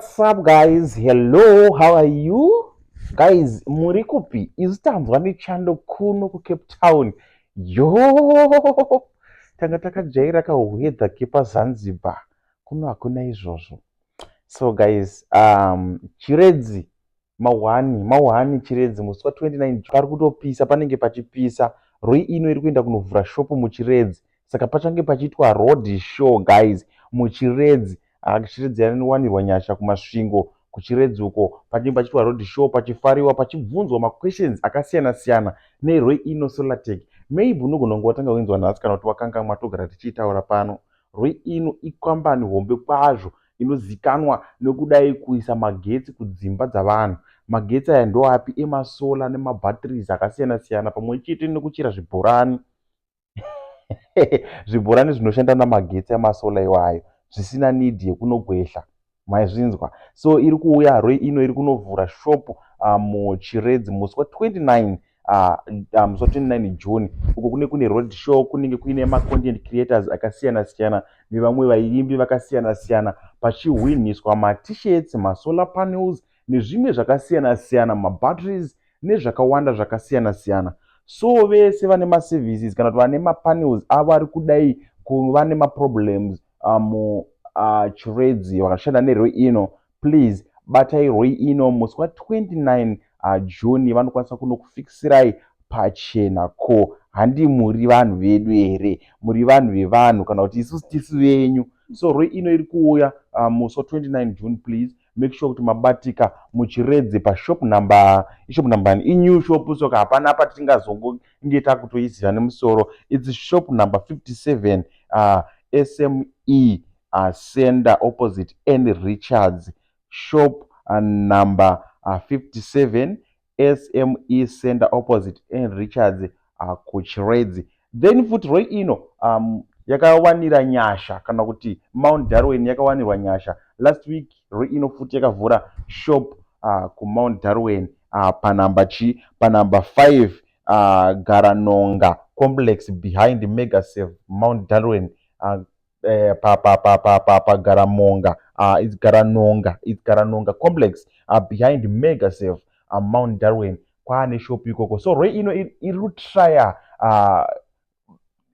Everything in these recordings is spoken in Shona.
What's up guys? Hello, how are you? Guys, muri kupi? Isu tanzwa nechando kuno kuCape Town. Yo! Tanga takajaira kahwedha kepaZanzibar. Kuno hakuna izvozvo. So guys, um, Chiredzi Mahwani, Mahwani, Chiredzi musi wa 29 June pari kutopisa, panenge pachipisa. Roi ino iri kuenda kunovhura shop muChiredzi saka pachange pachiitwa road show guys muChiredzi. Haa Chiredzi yanowanirwa nyasha kuMasvingo kuChiredzi uko panenge pachiitwa road show pachifariwa pachibvunzwa maquestions akasiyana siyana neRoi ino Solartech. Maybe unogona kunge watanga kuinzwa nhasi kana kuti wakangamwa togara tichiitaura pano. Roi ino ikambani hombe kwazvo inozikanwa nekudai kuisa magetsi kudzimba dzavanhu. Magetsi aya ndoapi? Emasolar nemabatteries akasiyana siyana pamwe chete nekuchera zvibhorani zvibhorani zvinoshanda namagetsi emasolar iwayo zvisina need yekunogwehla maizvinzwa so iri kuuya haroi ino iri kunovhura shop muchiredzi musi wa 29 ah, ah, musi wa 29 june uko kune kune road show kunenge kuine macontent creators akasiyana siyana nevamwe vaimbi vakasiyana siyana pachihwinhiswa matishirts masolar panels nezvimwe zvakasiyana siyana mabatteries nezvakawanda zvakasiyana siyana so vese vane maservices kana kuti vane mapanels avo ari kudai kuva nemaproblems um, uh, chiredzi vakashanda nerwo ino please batai roi ino musi wa 29 June vanokwanisa kunokufixirai pachena ko handi muri vanhu vedu here muri vanhu vevanhu kana kuti isusu tisi venyu so roi ino iri kuuya uh, musi wa 29 June please make sure kuti mabatika muchiredze pashop number ishop number ni inew shop soka hapana apa tingazongonge takutoiziva nemusoro its shop number 57 uh, sme Ascender opposite Ann Richards shop number 57 SME center opposite Ann Richards kuChiredzi. Then futi roi ino um, yakawanira nyasha kana kuti mount darwin yakawanirwa nyasha last week roi ino futi yakavhura shop uh, kumount darwin uh, panumber chi panumber 5 uh, garanonga complex behind megasave mount darwin uh, eh, pa pa pa pa pa pa Garamonga uh, it's Garanonga it's Garanonga complex uh, behind mega safe uh, Mount Darwin kwaane shop ikoko so rwe ino iri kutrya uh,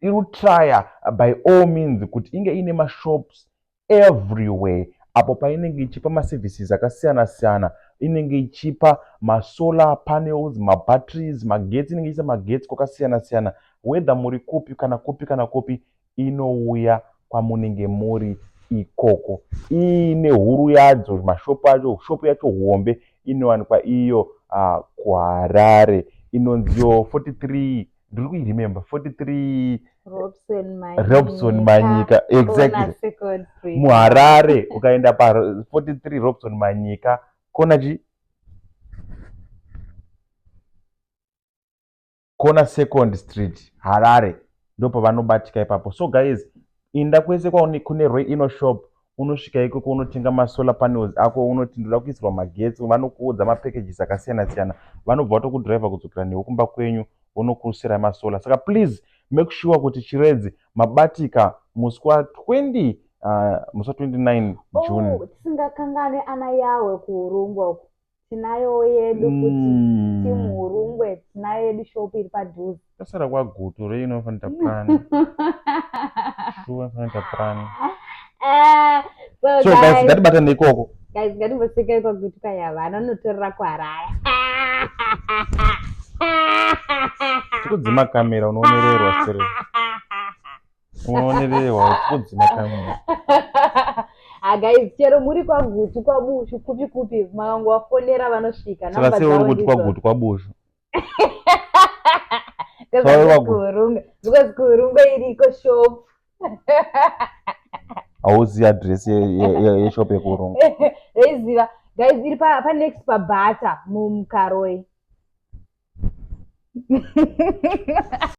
iri kutrya uh, by all means kuti inge ine mashops everywhere apo painenge ichipa maservices akasiyana siyana inenge ichipa masolar panels mabatteries magetsi inenge ichiisa magetsi kwakasiyana siyana whether muri kupi kana kupi kana kupi inouya kwamunenge muri ikoko iine huru yadzo mashop acho shop yacho hombe inowanikwa iyo uh, kuharare inonziwo 43 ndiri kuiremember 43 robson manyika exactly muharare ukaenda pa 43 robson manyika kona chi kona second street harare ndopavanobatika ipapo so guys inda kwese kune rwe ino shop unosvika ikoko unotenga masolar panels ako unoti ndoda kuisirwa magetsi vanokuudza mapackages akasiyana siyana vanobva vatokudriver kudzokera newe kumba kwenyu vonokusirai masolar saka please make sure kuti chiredzi mabatika musi wa 20 uh, musi wa 29 june tisingakangane ana yawe kuurungwa uku tinayowo yedu futi mm. team hurungwe tinayo yedu shop iri padhuze tasara kwagutu rei inofanira tapurani shuwa inofanira tapurani eh, so guys ngatibatane ikoko guys ngatimboseka ikwagutu kayava anonotorera kuharaya tikudzima kamera unoonererwa sere unonererwa kudzi makamera ah, guys chero muri kwagutu kwabushu kupi kupi makangovafonera vanosvika saka sei uri kuti kwagutu kwabushu kuhurunga because kuhurunga iriko shop hauzivi adress yeshop yekuhurunga reiziva guys iri panext pabhata mumkaroi